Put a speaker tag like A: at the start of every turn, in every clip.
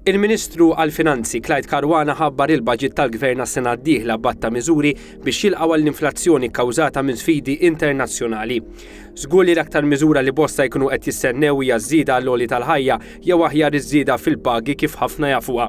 A: Il-Ministru għall-Finanzi Clyde Karwana ħabbar il-baġit tal-Gvern għas-sena d-dieħla batta miżuri biex jilqgħu għall-inflazzjoni kkawżata minn sfidi internazzjonali. Żgur li l-aktar miżura li bosta jkunu qed jistennew hija żieda għall-għoli tal-ħajja jew aħjar iż-żieda fil-pagi kif ħafna jafuha.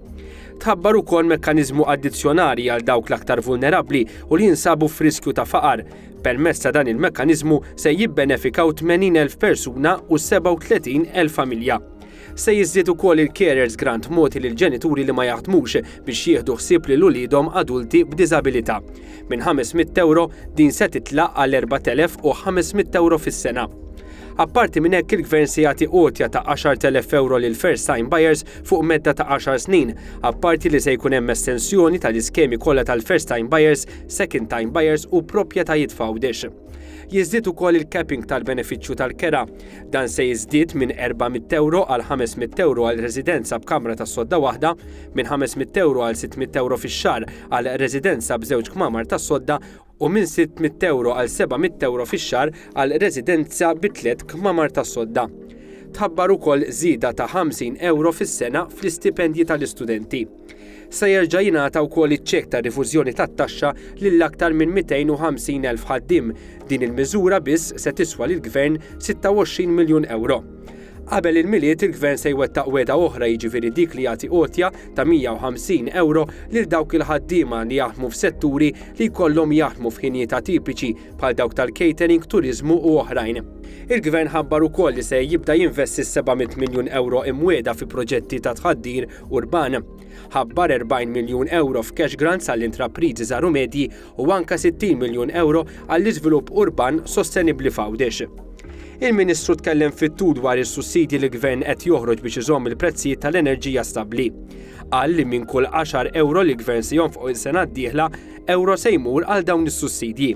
A: Tħabbar ukoll mekkaniżmu addizzjonali għal dawk l-aktar vulnerabbli u li jinsabu f'riskju ta' faqar. Permezz ta' dan il-mekkaniżmu se jibbenefikaw 80,000 persuna u 37,000 familja. Se jiżdied ukoll il-Carers Grant mogħti lil ġenituri li ma jaħdmux biex jieħdu ħsieb lil uliedhom adulti b'diżabilità. Minn 500 ewro din se titlaq għal 4,500 ewro fis-sena. Apparti minn hekk il-Gvern se jagħti għotja ta' 10,000 ewro lil first time buyers fuq medda ta' għaxar snin, apparti li se jkun hemm estensjoni tal-iskemi kollha tal-first time buyers, second time buyers u proprjetajiet f'Għawdex. Jiżdied ukoll il-capping tal-benefiċċju tal-kera. Dan se jiżdied minn 400 ewro għal 500 ewro għal residenza b'kamra tas-sodda waħda, minn 500 ewro għal 600 ewro fix-xahar għal residenza b'żewġ kmamar tas-sodda u minn 600 ewro għal 700 ewro fix-xahar għal residenza bi tliet kmamar tas-sodda. Tħabbar ukoll żieda ta' 50 ewro fis-sena fl-istipendji tal-istudenti. Se jerġa' jingħata wkoll iċ-ċekk ta' rifużjoni tat-taxxa lil aktar minn 250 elf ħaddiem, din il-miżura biss se tiswa lill-Gvern 26 miljun ewro. Qabel il-Milied il-Gvern se jwettaq wegħda oħra jiġifieri dik li jagħti għotja ta' 150 ewro lil dawk il-ħaddiema li jaħdmu f'setturi li jkollhom jaħdmu f'ħinijiet atipiċi bħal dawk tal-catering, turiżmu u oħrajn. Il-Gvern ħabbar ukoll li se jibda jinvesti s-700 miljun ewro imwiegħda fi proġetti ta' tħaddir urban. Ħabbar 40 miljun ewro f'cash grants għall-intrapriżi żgħar u medji u anke 60 miljun ewro għall-iżvilupp urban sostenibbli f'Għawdex. Il-Ministru tkellem fit-tul dwar is-sussidji li l-Gvern qed joħroġ biex iżomm il-prezzijiet tal-enerġija stabbli. Qal li minn kull 10 ewro li l-Gvern se jonfoq is-sena d-dieħla, ewro se jmur għal dawn is-sussidji.